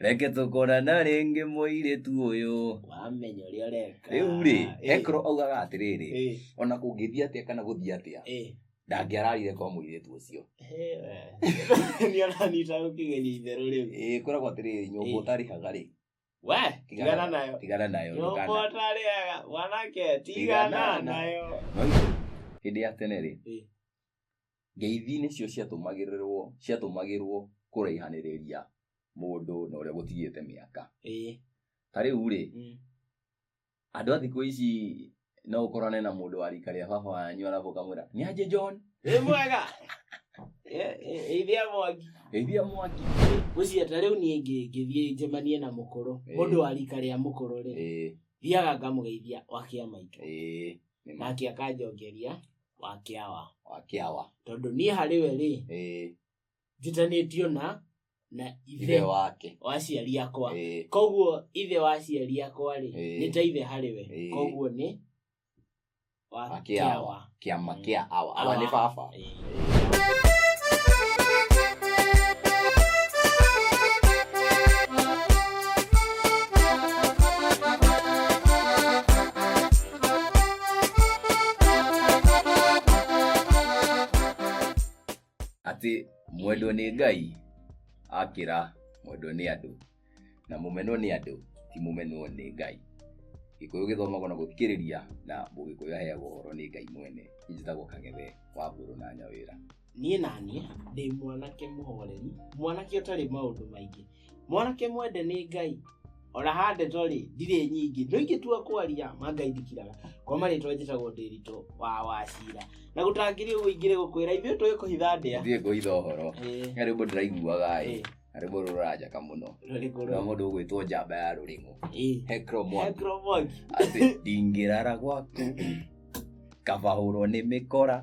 reke tũkorana rĩngĩ mũirĩtu ũyũ wamenya ũrĩa ũreka rĩu rĩ Eh, hekoro augaga atĩrĩrĩ eh, ona kũngĩthiĩ atĩa kana gũthiĩ atĩa eh. ndangĩararire kwa mũirĩtu ũcio Eh, we. Nĩ aranyita gũkĩgeria itherũ rĩu ĩĩ koragwo atĩrĩrĩ nyũmba Eh. ũtarĩhaga rĩ we tigana nayo tigana nayo nyũmba ndũkana- ũtarĩaga mwanake tigana Tigana nayo no ithe, hĩndĩ ya tene rĩ Eh. Ngeithi nĩcio ciatũmagĩrĩrwo ciatũmagĩrwo kũraihanĩrĩria mũndũ na ũrĩa gũtigĩte mĩaka. Ĩĩ. Ta rĩu-rĩ, mm. andũ a thikũ ici no ũkorane na mũndũ wa rika rĩa baba wanyu arabu ũkamwĩra nĩ anjĩ John. Wĩ mwega. Ithia mwangi. Ithia mwangi. Ũcio ta rĩu niĩ ngĩthiĩ njemanie na mũkũrũ, mũndũ wa rika rĩa mũkũrũ rĩ. Thiaga ngamũgeithia wakia maitũ. Nake akanjongeria. wa kĩawa wa kĩawa tondũ niĩ harĩ we rĩ Ĩĩ, njitanĩtio na na ithe ithe wake wa aciari akwa Ĩĩ, koguo ithe wa aciari akwa rĩ Ĩĩ. nĩ ta ithe harĩ we Ĩĩ. koguo nĩ wa Wa kĩawa. kĩawa kĩama Mm. kĩa awa awa nĩ Awa. baba Ĩĩ. Ĩĩ. atĩ mwendwo nĩ ngai akĩra mwendwo nĩ andũ na mũmenwo nĩ andũ ti mũmenwo nĩ ngai gĩkũyũ gĩthomagwo na gũthikĩrĩria na mũgĩkũyũ aheagwo ũhoro nĩ ngai mwene njĩtagwo kang'ethe wa mbũrũ na nyawĩra niĩ naniĩ ndĩ mwanake mũhoreri mwanake ũtarĩ maũndũ maingĩ mwanake mwende nĩ ngai ona handeto rĩ ndirĩ nyingĩ no ingĩtua kwaria ma ngai ndikiraga kwa marĩtwa njĩtagwo ndĩritũ wa wacira na gũtangĩrĩ ũguo ingĩrĩ gũkwĩra ithuĩ tũĩ kũhitha ndĩa thiĩ ngũitha ũhoro Ĩĩ, na rĩmbo ndĩraiguaga ĩ ĩĩ, na rĩmbo rũranjakamo no rũrĩkũ na rũrũ? mũndũ ũgwĩtwo njamba ya rũrĩmũ Ĩĩ. hekro mwangi Hekro Mwangi. atĩ ndingĩrara gwaku kabahũrwo nĩ mĩkora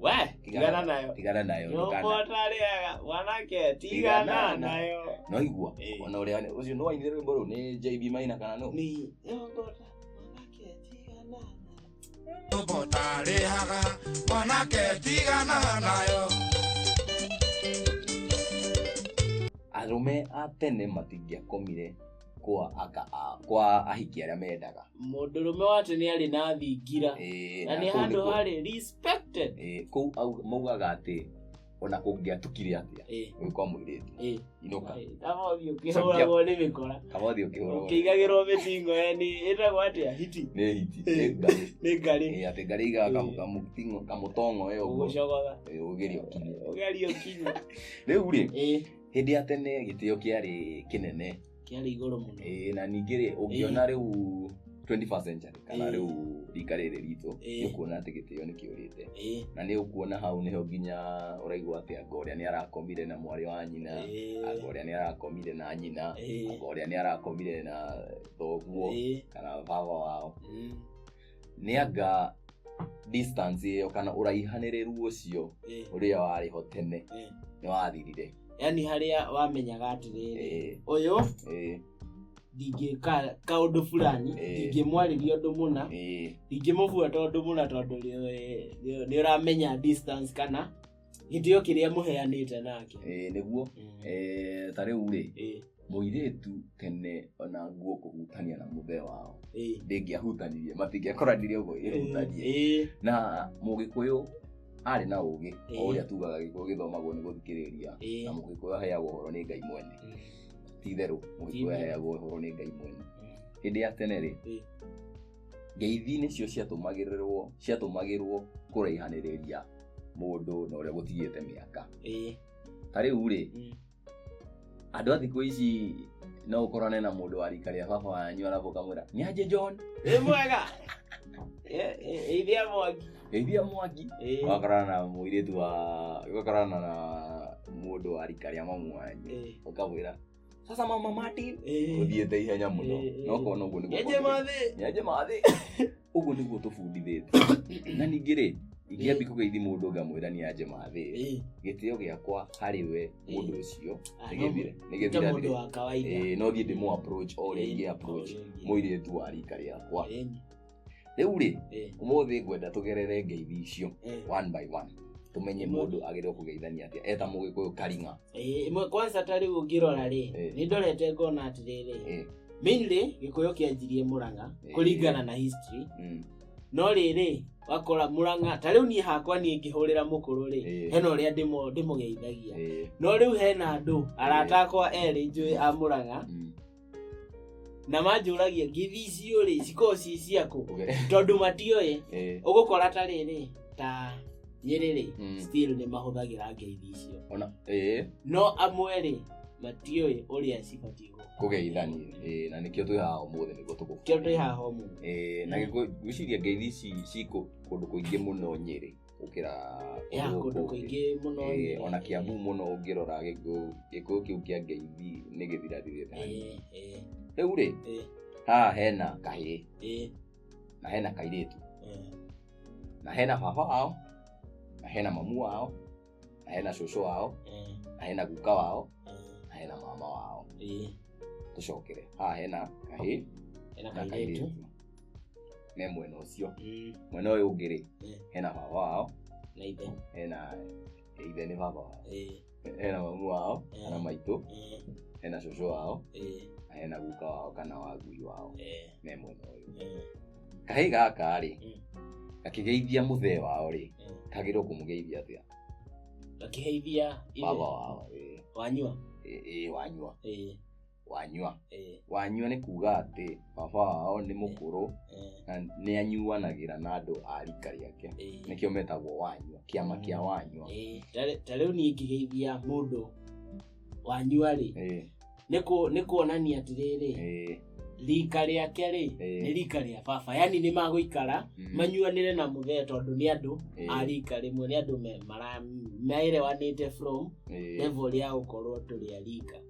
we tigana nayo tigana nayo ndũkana- nyokotarĩaga wanake Tigana tigana nayo noigua Eh. ona ũrĩa ũcio nĩ wainire rwĩmbo rũu nĩ jb maina kana nũ nĩ nyokota wanake tigana nayo tũgũtarĩhaga mwanake tigana nayo arũme a tene matingĩakomire kwa aka a- kwa ahiki arĩa mendaga mũndũrũme wa tene arĩ na thingira Ĩĩ, na nĩ kũu handũ nĩkuo- harĩ respected ĩĩ, kũu au- maugaga atĩ ona kũngĩatukire atĩa Eh, ũyũ kwa mũirĩtu eh, inũka eh, kama ũthiĩ ũkĩhũragwo nĩ mĩkora kaba ũthiĩ ũkĩhũrwo ũkĩigagĩrwo mĩtingo eh, nĩ ĩtagwo atĩa hiti nĩ hiti Eh. nĩ ngarĩ nĩ ngarĩ Ĩĩ, atĩ ngarĩ igaga kamu- Eh. kamutingo- kamutongo ĩyo ũguo ũgũcogoga Ĩĩ, ũgerio kinya ũgerio kinya rĩu rĩ Eh, hĩndĩ ya tene gĩtĩo kĩarĩ kĩnene kĩarĩ igũrũ mũno Ĩĩ, na ningĩ rĩ ũngĩona rĩu 21st century kana Ĩĩ. rĩu rika rĩrĩ ritũ Ĩĩ. nĩ kuona atĩ gĩtĩo nĩ kĩũrĩte Ĩĩ, na nĩ ũkuona hau nĩho nginya ũraigua atĩ anga ũrĩa nĩ arakomire na mwarĩ wa nyina anga ĩĩ, ũrĩa nĩ arakomire na nyina ĩĩ, anga ũrĩa nĩ arakomire na thoguo ĩĩ, kana baba wao ĩĩ. nĩ anga distance ĩyo kana ũraihanĩrĩru ũcio Eh, ũrĩa warĩ ho tene eh. nĩ wathirire yaani harĩa wamenyaga atĩrĩrĩ Eh, ũyũ eh, ndingĩka kaũndũ fulani Eh. ndingĩmwarĩria ũndũ mũna eh, ndingĩmũbuata ũndũ mũna tondũ nĩ- nĩ- nĩ ũramenya distance kana gĩtĩo kĩrĩa mũheanĩte nake Eh, nĩguo Mm. eh, ta rĩu rĩ Eh, mũirĩtu tene ona nguo kũhutania na mũthee wao eh, ndĩngĩahutanirie matingĩakoranirie ũguo eh, ĩhutanie eh, na mũgĩkũyũ arĩ na ũgĩ o Eh. ũrĩa tugaga gĩkũyũ gĩthomagwo nĩ gũthikĩrĩria eh. na mũgĩkũyũ aheagwo ũhoro nĩ ngai mwene Mm. ti-itherũ mũgĩkũyũ Ti-itherũ. aheagwo ũhoro nĩ ngai mwene hĩndĩ ya tene rĩ Eh. ngeithi nĩcio ciatũmagĩrĩrwo ciatũmagĩrwo kũraihanĩrĩria mũndũ na ũrĩa gũtigĩte mĩaka ĩĩ ta rĩu rĩ mm, andũ a thikũ ici no ũkorane na mũndũ wa rika rĩa baba wanyu arabu kamwĩra nĩ anjĩ john wĩ mwega Ĩ- ĩ- ĩithia mwaki geithia mwaki Ĩĩ, ũgakorana na mũirĩtu wa ũgakorana na mũndũ wa rika rĩa mamu wanyu ĩĩ. ũkamwĩra sasa mama mati Eh. uthiete ihenya muno Eh, eh. nokona uguo niguo Nyenje mathĩ. nyenje mathĩ uguo niguo tũbundithĩte na ningĩ rĩ ingĩambi kũgeithi mũndũ ngamwĩra nĩ anje mathĩ Eh, gĩtĩo gĩakwa harĩ we mũndũ Eh. ũcio ah, no, nĩgĩthire ta nĩgĩthire mũndũ wa kawaida. Eh, no thiĩ ndĩmũ approach o rĩngĩ approach Eh, mũirĩtu wa rika rĩakwa eh, rĩu rĩ Eh, ũmũthĩ ngwenda tũgerere ngeithi icio eh. one by one tũmenye mũndũ agĩrĩirwo kũgeithania atĩa eta mũgĩkũyũ karinga Eh, ĩmwe kwanza ta rĩu ũngĩrora rĩ Eh. nĩ ndorete ngona atĩrĩrĩ Eh. mainly gĩkũyũ kĩanjirie mũrang'a Eh. kũringana na history Mm. no rĩrĩ wakora mũrang'a ta rĩu niĩ hakwa niĩ ngĩhũrĩra mũkũrũ rĩ Eh. hena ũrĩa ndĩmũ- ndĩmũgeithagia Eh. no rĩu hena andũ arata akwa erĩ njũĩ a mũrang'a Mm. na manjũragia ngĩthi icio rĩ cikorwo ci ciakũ tondũ matiũĩ Eh, ũgũkora ta rĩrĩ ta nyĩrĩ rĩ Mm. still nĩ mahũthagĩra ngeithi icio ona eh, no amwe rĩ matiũĩ ũrĩa cibatiĩ gũkũ kũgeithania Eh, na nĩkĩo twĩ haha ũmũthĩ nĩguo tũkũ kĩo twĩ haha ũmũthĩ Eh, na Mm. gĩkũ- ngwĩciria ngeithi ici ci kũ- kũndũ kũingĩ mũno nyĩrĩ gũkĩra ya kũndũ kũndũ kũngĩ. kũingĩ mũno Ĩĩ, nĩ- ona kiambu mũno ũngĩrora gĩkũyũ gĩkũyũ kĩu kĩa ngeithi nĩ gĩthirathirĩte Ĩĩ, ĩĩ, rĩu rĩ Ĩĩ. haha hena kahĩĩ ĩĩ, na hena kairĩtu ĩĩ. na hena baba wao na hena mamu wao na hena cũcũ wao Ĩĩ, na hena guka wao ĩĩ, na hena mama wao ĩĩ. tũcokere haha hena kahĩĩ Ena na kairĩtu kairĩtu me mwena ũcio Mm. mwena ũyũ ũngĩ rĩ Eh. hena baba wao na ithe hena ithe nĩ baba wao Eh, hena mamu wao Eh. kana maitũ eh, hena cũcũ wao eh, na hena guka wao kana wagui wao eh, me mwena ũyũ eh, kahĩ gaka rĩ Mm. gakĩgeithia mũthee wao rĩ eh. kagĩrwo kũmũgeithia atĩa gakiheithia ithe baba wao ĩ- wanyua ĩ- ĩ wanyua Eh, wanyua eh, wanyua nĩ kuga atĩ baba wao nĩ mũkũrũ eh, na nĩ anyuanagĩra na andũ a rika rĩake eh. nĩkĩo metagwo wanyua kĩama kĩa wanyua Eh, ta- ta rĩu niĩ ngĩgeithia mũndũ wanyua rĩ Eh, nĩ kũ- nĩ kuonania atĩrĩrĩ eh, rika rĩake rĩ Eh. nĩ rika rĩa baba yani nĩ magũikara mm, manyuanĩre na mũthee tondũ nĩ andũ eh, a rika rĩmwe nĩ andũ me- mara- maerewanĩte from eh, level ya gũkorwo tũrĩ a rika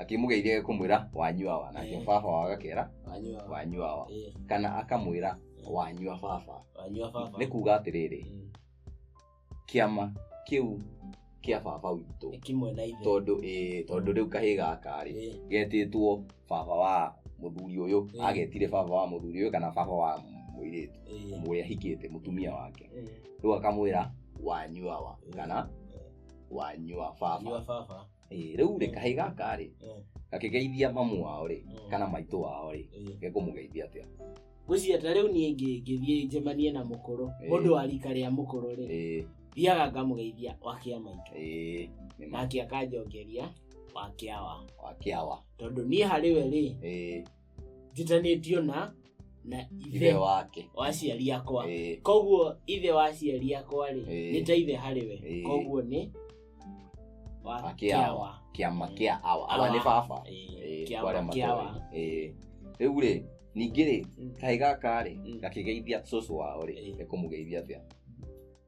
akĩmũgeithia kũmwĩra wanyua wa nake Eh. baba wao agakera wanyua wanyua wa eh, kana akamwĩra wanyua baba wanyua baba nĩ kuga atĩrĩrĩ Mm. kĩama kĩu kĩa baba witũ ĩkimwe na ithe tondũ ĩĩ, tondũ rĩu kahĩ gaka rĩ Eh, getĩtwo baba wa mũthuri ũyũ Eh. agetire baba wa mũthuri ũyũ kana baba wa mũirĩtu eh, ũrĩa hikĩte mũtumia wake eh, rĩu akamwĩra wanyua wa kana wa nyua Nyua baba baba. Ĩĩ, rĩu rĩ kahĩ gaka rĩ Eh, gakĩgeithia mamu wao rĩ eh, kana maitũ wao rĩ eh. gekũmũgeithia atĩa Ngwĩciria ta rĩu niĩ ngĩ- ngĩthiĩ njemanie na mũkũrũ Eh. mũndũ wa rika rĩa mũkũrũ rĩ Ĩĩ, thiaga ngamũgeithia wakĩa maitũ ĩĩ, nĩ ma nake akanjongeria wakĩa wa wakĩawa tondũ niĩ harĩ we rĩ Ĩĩ, njutanĩtio na na ithe ithe wake wa aciari akwa Eh, koguo ithe wa aciari akwa rĩ Eh. nĩ ta ithe harĩ we Eh. koguo nĩ wa Wa kĩawa. kĩawa kĩama kĩa awa awa nĩ baba Eh, Eh, kĩama kwa arĩa matoĩ. kĩawa Eh, rĩu rĩ ningĩ rĩ Mm. kaĩ gaka rĩ Mm. gakĩgeithia cũcũ wao rĩ Eh. nĩkũmũgeithia atĩa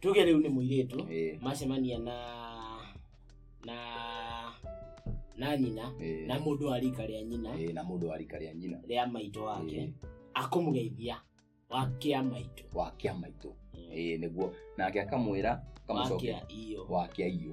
tuge rĩu nĩ mũirĩtu ĩĩ, macemania na na na nyina ĩĩ, na mũndũ wa rika rĩa nyina ĩĩ, na mũndũ wa rika rĩa nyina rĩa maitũ wake ĩĩ, akamũgeithia wakĩa maitũ wakĩa maitũ ĩĩ, nĩguo nake akamwĩra akamũcokia wakĩa iyo wakĩa iyo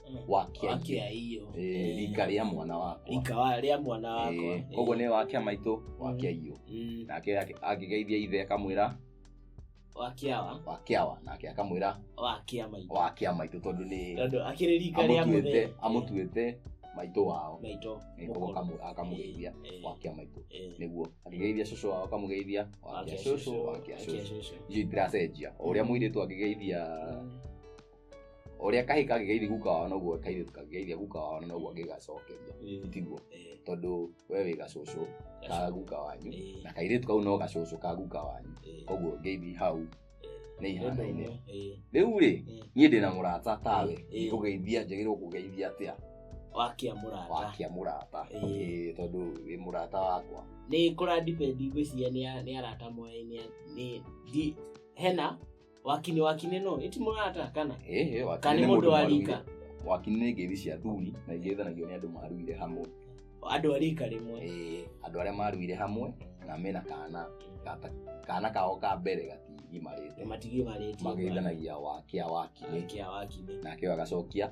wakia wakia hiyo Eh, rika rĩa mwana wakwa ikawa rĩa mwana wakwa Eh, koguo nĩ wakia maitũ wakia iyo Mm, nake ake- akĩgeithia ithe akamwĩra wakiawa wakiawa nake akamwĩra wakia maitũ wakia maitũ tondũ nĩ tondũ akĩrĩ rika rĩa amũtuĩte mũthee amũtuĩte maitũ wao maitũ Eh, koguo mũkũrũ. akamu- akamũgeithia Eh, eh, wakia maitũ eh. nĩguo akĩgeithia cũcũ wao akamũgeithia wakia Wakia cũcũ cũcũ, wakia wakia cũcũ cũcũ. icio itiracenjia o ũrĩa mũirĩtu angĩgeithia Mm. ũrĩa kahĩ kagĩgeithi guka wao noguo kairĩtu kagĩgeithia guka wao noguo angĩgacokeria Ĩĩ. tiguo Ĩĩ. tondũ we wĩ gacũcũ ka guka wanyu Ĩĩ. na kairĩtu kau no gacũcũ ka guka wanyu Ĩĩ. koguo ngeithi hau nĩ Ĩĩ. ihanaine Ĩĩ. rĩu rĩ Ĩĩ. niĩ ndĩ na mũrata tawe Ĩĩ. kũgeithia njagĩrĩirwo kũgeithia atĩa wakia mũrata wakia mũrata Ĩĩ. Ĩĩ, tondũ wĩ mũrata wakwa nĩ kũra depend ngwĩciria nĩ a- nĩ arata moyaine nĩ ndi- hena wakine wakine no ĩti mũrata kana Eh, eh, wakiri Kana nĩ nĩ mũndũ mũndũ wa warũire. rika. wakiri nĩ ngeithi cia thuri na iria ithanagio nĩ andũ maruire hamwe andũ a rika rĩmwe Eh, andå arä a maruire hamwe na mena kana gata- kana kao ka mbere gatigimarä te matigĩ marĩtie magäithanagia wakä a wakinä kia wakine nake agacokia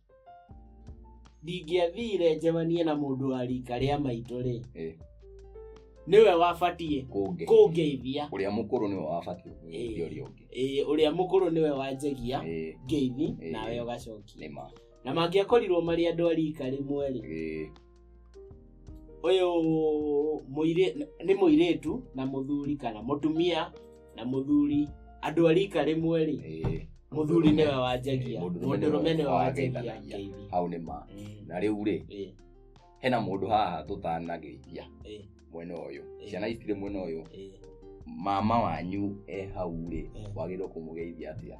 ndingĩathire njemanie na mũndũ wa rika rĩa maitũ-rĩ Eh. nĩwe wabatiĩ kũnge kũngeithia ũrĩa mũkũrũ nĩwe wabatiĩ Eh. kũgeithia ũrĩa ũngĩ Ĩĩ, ũrĩa mũkũrũ nĩwe wanjagia Eh, ngeithi Eh. nawe ũgacokia nĩ ma na mangĩakorirwo marĩ andũ a rika rĩmwe-rĩ Eh, ũyũ mũirĩ nĩ mũirĩtu na mũthuri kana mũtumia na mũthuri andũ a rika rĩmwe rĩ Eh, mũthuri nĩwe wanjagia Eh, mũndũrũme nĩwe mũndũrũme nĩwe wanjagia wanjagia. ngeithi hau nĩ ma Mm, na rĩu rĩ eh, hena mũndũ haha tũtanageithia eh, mwena ũyũ Eh. ciana ici cirĩ mwena ũyũ eh. mama wanyu e hau rĩ Eh. wagĩrĩirwo kũmũgeithia atĩa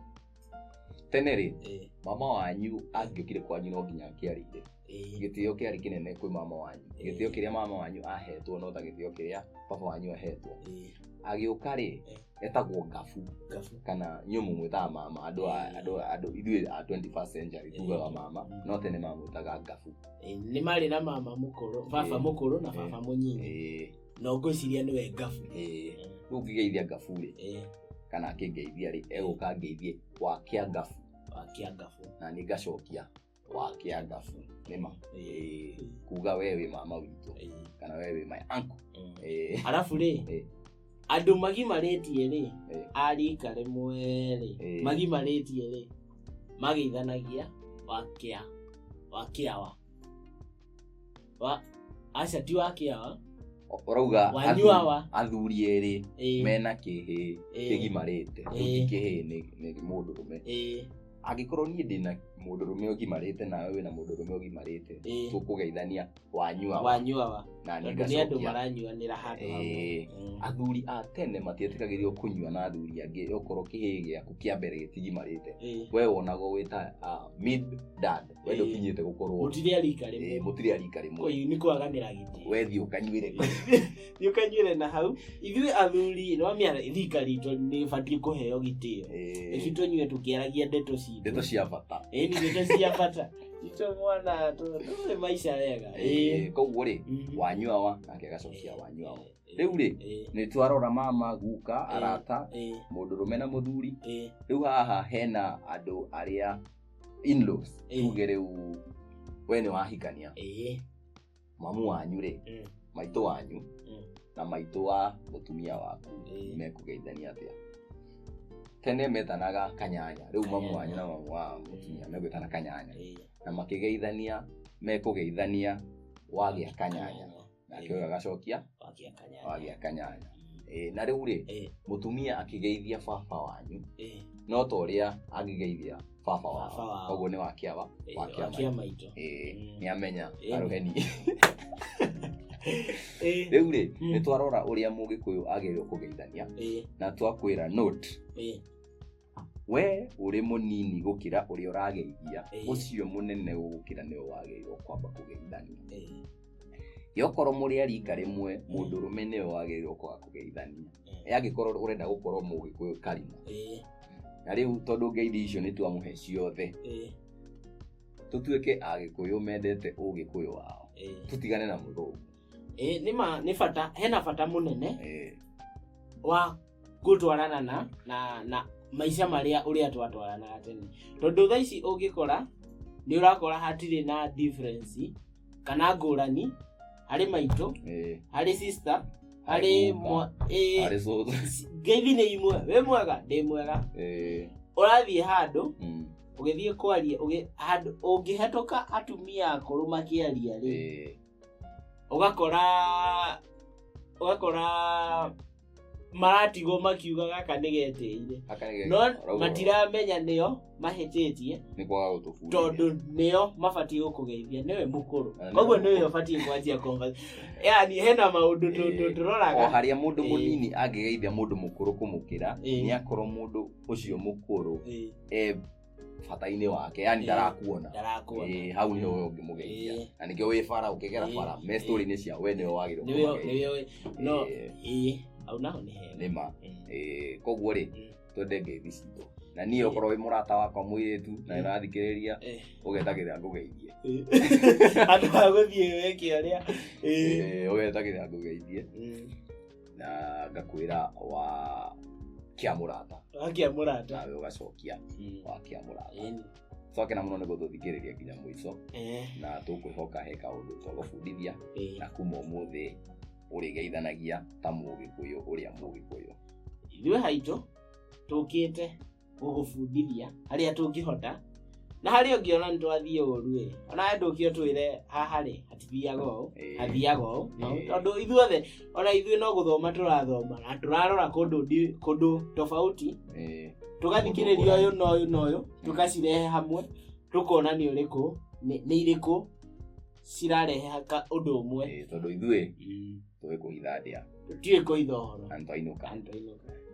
tene rĩ eh. mama wanyu angĩũkire kwanyu no nginya angĩarĩire eh. gĩtĩo kĩarĩ kĩnene kwĩ mama wanyu eh. gĩtĩo kĩrĩa mama wanyu ahetwo no ta gĩtĩo kĩrĩa baba wanyu ahetwo agĩũka rĩ etagwo ngabu kana nyũmũ mwĩtaga mama andũ andũ ithuĩ a 21st century tugaga mama mm. no tene mamwĩtaga ngabu nĩ marĩ na mama mũkũrũ baba mũkũrũ na baba mũnyinyi no ngwĩciria nĩwe ngabu Eh, rĩu ngĩgeithia ngabu rĩ Eh, kana akĩngeithia rĩ egũka angeithie wakĩa ngabu wakia ngabu na nĩ ngacokia wakĩa ngabu nĩma Eh, kuga we wĩ mama witũ Eh, kana we wĩ my uncle mm. Eh, arabu rĩ Eh. andũ magimarĩtie rĩ Eh. arika rĩmwe rĩ Eh. magimarĩtie rĩ magĩithanagia wakĩa wakĩawa wa aca ti wa kĩawa ũrauga wanyua athu- wa athuri erĩ Ĩĩ, mena kĩhĩ Ĩĩ. kĩgimarĩte Ĩĩ. rĩu ti kĩhĩ nĩ- nĩ mũndũrũme ĩĩ, angĩkorwo niĩ ndĩna mũndũrũme ũgimarĩte nawe wĩna mũndũrũme ũgimarĩte ĩĩ. tũkũgeithania wanyua wa wanyua wa na niĩ tondũ nĩ andũ ngacokia maranyuanĩra handũ hamwe Ĩĩ. Mm. athuri a tene matietĩkagĩrio kũnyua na athuri angĩ okorwo kĩhĩ gĩaku kĩa mbere gĩtigimarĩte Ĩĩ. we wonagwo wĩta ah, mid dad we Ĩĩ. ndũkinyĩte gũkorwo mũtirĩ arika eh, rĩmwe mũtirĩ arika rĩmwe Koi, nĩ kwaganĩra gĩtĩ we thiĩ ũkanyuĩre nĩ ũkanyuĩre na hau ithuĩ athuri nĩ wamĩa rika ritũ nĩ batiĩ kũheo gĩtĩo Eh, ĩci tũnyue tũkĩaragia ndeto citũ ndeto cia bata ĩni ndeto cia bata itũ mwana tũ- tũrĩ maica wega Eh, koguo rĩ Mhm. wanyua wa nake agacokia wanyua wa rĩu rĩ Ĩĩ, nĩ twarora mama guka Eh. arata ĩĩ, mũndũrũme na mũthuri ĩĩ. rĩu haha hena andũ arĩa inlaws Eh. tuge rĩu we nĩ wahikania ĩĩ mamu wanyu rĩ Mm. maitũ wanyu Mm. na maitũ wa mũtumia waku Eh. mekũgeithania atĩa tene metanaga kanyanya rĩu mamu Kanyanya. wanyu na mamu wa mũtumia megwĩtana kanyanya ĩĩ na makĩgeithania mekũgeithania wagĩa kanyanya nake ũyũ agacokia wagia kanyanya wagia kanyanya Ĩĩ, na rĩu rĩ Eh, mũtumia akĩgeithia baba wanyu eh, no ta ũrĩa angĩgeithia baba Baba wao wao. koguo nĩ wakĩawa eh, Wakia wakia maitũ Mm. nĩ amenya Ĩĩ. arũheni Eh, rĩu rĩ Mm. nĩ twarora ũrĩa mũgĩkũyũ agĩrĩirwo kũgeithania eh, na twakwĩra note eh, we ũrĩ mũnini gũkĩra ũrĩa ũrageithia Ĩĩ. ũcio mũnene gũkĩra nĩwe wagĩrĩirwo kwamba kũgeithania Eh, yokorwo mũrĩ arika rĩmwe mũndũ ũrũme nĩwe wagĩrĩirwo kwaga kũgeithania eh, yangĩkorwo ũrenda gũkorwo mũgĩkũyũ karima eh, na rĩu tondũ ngeithi icio nĩ twamũhe ciothe eh, tũtuĩke agĩkũyũ mendete ũgĩkũyũ wao eh. tũtigane na mũthũngũ ĩ nĩ ma nĩ bata hena bata mũnene Eh, wa gũtwarana na na na maica marĩa ũrĩa twatwaranaga tene tondũ thaa ici ũngĩkora nĩ ũrakora hatirĩ na difference kana ngũrani harĩ maitũ eh, harĩ sister harĩ Harĩ mwa- mwa- ĩ, harĩ cũcũ. ci- ngeithi nĩ imwe wĩ mwega ndĩ mwega Eh, ũrathiĩ handũ mm, ũgĩthiĩ kwaria ũgĩ- handũ- ũngĩhetũka atumia akũrũ makĩaria rĩ eh, ũgakora ũgakora maratigwo makiuga gaka nĩgetĩire no matiramenya nĩo mahĩtĩtie tondũ nĩo mabatiĩ gũkũgeithia nĩwe mũkũrũ koguo nĩwe ũbatiĩ kwanjia yani hena maũndũ tũroraga harĩa mũndũ mũnini angĩgeithia mũndũ mũkũrũ kũmũkĩra nĩ akorwo mũndũ ũcio mũkũrũ bata-inĩ wake yani Eh, ndarakuona ndarakuona Eh, hau nĩho we ũngĩmũgeithia Eh. na nĩkĩo wĩ bara ũkĩgera Eh. bara me story-inĩ cia we nĩwe wagĩrĩirwo nĩwe kũmũgeithia. nĩwe no Eh, ĩĩ au naho nĩ hega nĩ ma Eh, Eh, koguo rĩ Mm. twende ngeithi citũ na niĩ Eh. okorwo wĩ mũrata wakwa mũirĩtu na Mm. ĩrathikĩrĩria eh, ũgetagĩrĩra ngũgeithie eh. andũ a gũthiĩ weke arĩa Eh, ũgetagĩrĩra ngũgeithie Mm. na ngakwĩra wa kĩa mũrata wakia mũrata nawe ũgacokia Mm. wa kĩa mũrata Ĩni. coke na mũno nĩ gũtũthikĩrĩria nginya mũico Eh, na tũkwĩhoka he kaũndũ twagũbundithia eh. na kuma ũmũthĩ ũrĩgeithanagia ta mũgĩkũyũ ũrĩa mũgĩkũyũ ithuĩ haitũ tũkĩte gũgũbundithia harĩa tũngĩhota na harĩ ũngĩ ona nĩ twathiĩ ũru ĩ ona we ndũkio twĩre haha rĩ hatithiaga ũũ Ĩĩ. hathiaga ũũ no, Ĩĩ. tondũ ithuothe ona ithuĩ no gũthoma tũrathoma na tũrarora kũndũ ndi- kũndũ tofauti Eh, tũgathikĩrĩria ũyũ na ũyũ na ũyũ tũgacirehe hamwe tũkona nĩ ũrĩkũ nĩ nĩ irĩkũ cirarehe haka- ũndũ ũmwe eh, tondũ ithuĩ tũĩ kũhitha ndĩa tũtiũĩ kũitha ũhoro na nĩ twainũka Antwainũka.